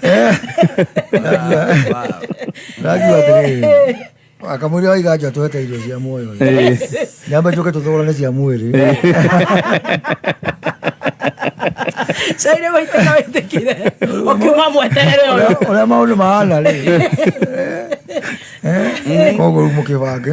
Eh. Ndagua atĩrĩrĩ akamwĩria waiga nja twete irio cia muoyo nyambe njoke tũthogorane cia mwĩrĩ caire waitĩka wĩtĩkire ũkiuma mweterere ũyũ ũrĩa maũndũ mahana rĩ koguo rĩu mũkĩbange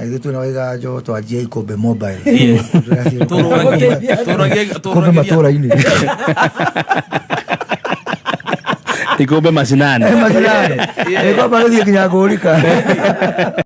Airĩtu na waiga njogo twanjia ikũmbĩ mobile. Kumbe matũra-inĩ. Ikumbe mashinani. Macinani. Nĩkwamba gĩthiĩ nginya ngũrika.